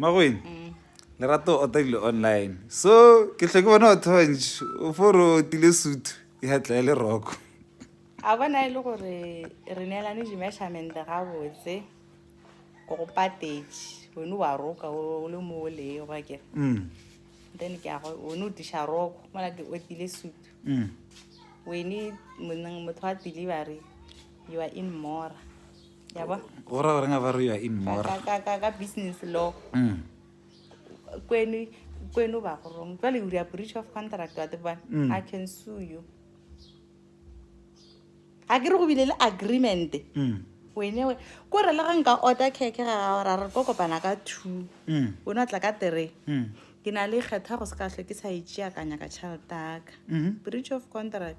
Makweng, Lerato o otarile online so ke hlwe ke bona batho ba bantši o fo re otile sutu ya tla ya le roko. A bona e le gore re neelane di-measurement-e gabotse ke go patetše one wa roka o le mo o lee go akere Mm, then ke yago one o tiša roko mola ke otile sutu mm. wene monneng motho wa delivery you are in mora yabo go ra goreng a ba re ya in more ka business law mm. kwenu kwenu ba go rong jwale uri a breach of contract wa tebana mm. i can sue you a ke re go bile le agreement mm. wene we ko re le ga nka order keke ga gago ra re ko kopana ka two mm. o ne tla ka three mm. ke na le kgetha go se ka tlho ke sa e tšeakanya ka tšhelete aka mm-hmm. breach of contract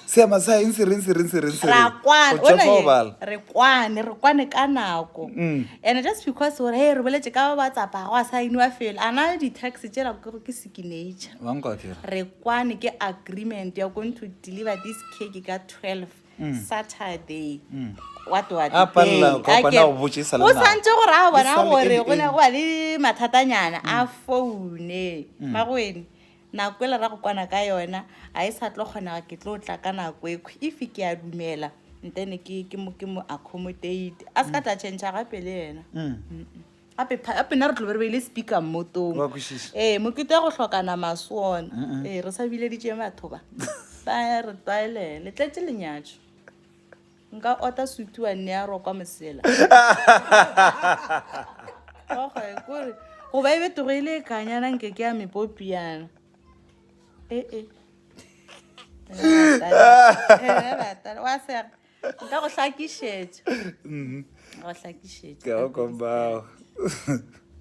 seema sa eng se reng se reng se reng se ra reng kwane go tšefa go bala re kwane re kwane ka nako Mm. and just because gore hey re boletse ka ba tsapa go a sainiwa felo a na di-tax tsela ke gore ke signature wa nkwatira re kwane ke agreement you're going to deliver this cake ka 12 saturday Mm. what do I A do? palela, Hey, ka a kwana ke- go botše e sa le o nako. santse gore a E bona sa le gore go ne early, go ba le mathatanyana a foune magoene Nako e le ra go kwana ka yona a e sa tlo kgonega ke tlo tla ka nako ekhwi if ke a dumela ntene ke ke mo ke mo accommodate a se ka tla change gape le yena gape pha- gape nna re tlobe re beile speaker mmotong Wa kwešiša. ee mokete wa go hlokana maswona ee re sa bileditše batho ba ba re tlwaelele tletse lenyatšo Nka ota sutu wa nne ya rokwa mosela. Oge, kore, go ba e betogo e le e kanyana nke ke ya mepopi yana. E, e. Wa sega, nka go hlakišetša. Go hlakišetša. Ke go kombao.